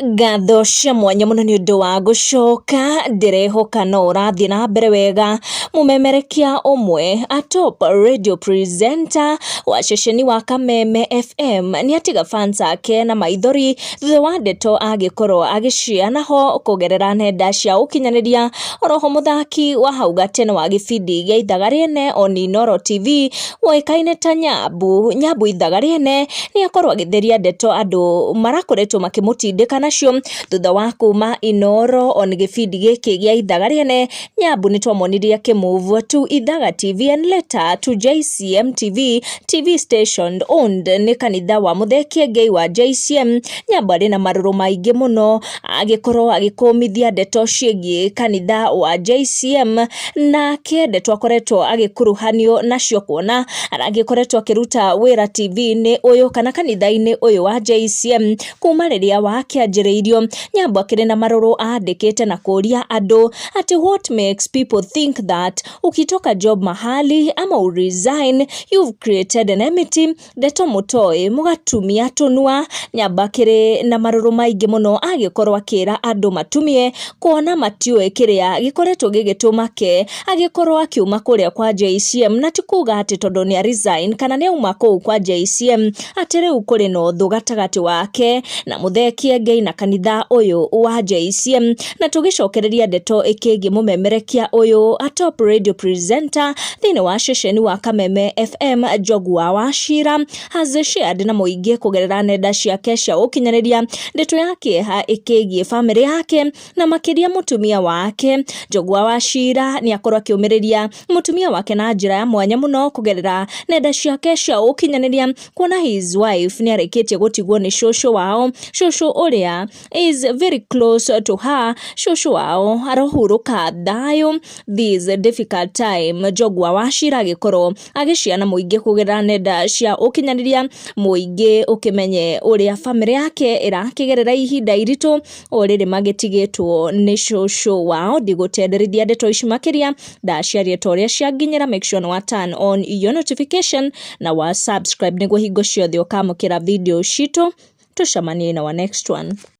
Ngatho cia mwanya mũno nĩ ũndũ wa gũcoka, ndĩrehoka no ũrathiĩ na mbere wega. Mũmemerekia ũmwe a top radio presenter wa ceceni wa Kameme FM nĩ atiga fans ake na maithori thutha wa ndeto angĩkorwo agĩciheana ho kũgerera nenda cia ũkinyanĩria. Oro ho mũthaki wa hau gatene wa gĩbindi gĩa Ithaga Rĩene Oninoro TV... ũĩkaine ta Nyambu, Nyambu ithaga rĩene, nĩ akorwo agĩtheria ndeto andũ marakoretwo makĩmũtindĩka nacio, thutha wa kuma Inooro on gĩbindi gĩkĩ gĩa ithaga rĩene, Nyambu nĩ twamonirie akĩ move to Ithaga TV and later to JCM TV, TV station owned nĩ kanitha wa Mũthee Kiengei wa JCM, Nyambu arĩ na marũrũ maingĩ mũno. agĩkorwo agĩkũmithia ndeto ciĩgiĩ kanitha wa JCM, nake ndeto akoretwo agĩkuruhanio nacio kuona agĩkoretwo akĩruta wĩra TV-inĩ ũyũ kana kanitha-inĩ ũyũ wa JCM kuma rĩrĩa wakĩanjĩrĩirio. Nyambo akĩrĩ na marũrũ andĩkĩte na kũria andũ atĩ what makes people think that ukitoka job mahali ama uresign you've created an enmity Ndeto mũtoĩ, mũgatumia tũnua, nyamba akĩrĩ na marũrũ maingĩ mũno agĩkorwo akĩra andũ matumie, kuona matiũĩ kĩrĩa gĩkoretwo gĩgĩtũma ke agĩkorwo akiuma kũrĩa kwa JCM, na ti kuga atĩ tondũ nĩ a resign kana nĩ auma kũu kwa JCM atĩ rĩu kũrĩ na ũthũ gatagatĩ wake na Mũthee Kiengei na kanitha ũyũ wa JCM. na tũgĩcokereria ndeto ĩkĩgiĩ mũmemerekia ũyũ a top radio presenter thĩinĩ wa ceceni wa Kameme FM Njogu wa Wachira has shared na mũingĩ kũgerera nenda ciake cia ũkinyanĩria ndeto ya kĩeha ĩkĩgiĩ bamĩrĩ yake na makĩria mũtumia wake. Njogu wa Wachira nĩ akorwo akĩũmĩrĩria mũtumia wake na njĩra ya mwanya mũno kũgerera nenda ciake cia ũkinyanĩria kuona his wife nĩ arĩkĩtie gũtigwo nĩ cũcũ wao, cũcũ ũrĩa is very close to her cũcũ wao arohurũka thayũ this difficult time njogwa wa cira agĩkorwo agĩciana mũingĩ kũgerera nenda cia ũkinyanĩria mũingĩ ũkĩmenye ũrĩa bamĩrĩ yake ĩrakĩgerera ihinda iritũ o rĩrĩ magĩtigĩtwo nĩ cũcũ wao ndigũtenderithia ndeto ici makĩria ndaciaria ta ũrĩa cianginyĩra make sure nĩ wa turn on your notification na wa subscribe nĩguo hingo ciothe ũkamũkĩra video citũ tũcemanie na wa next one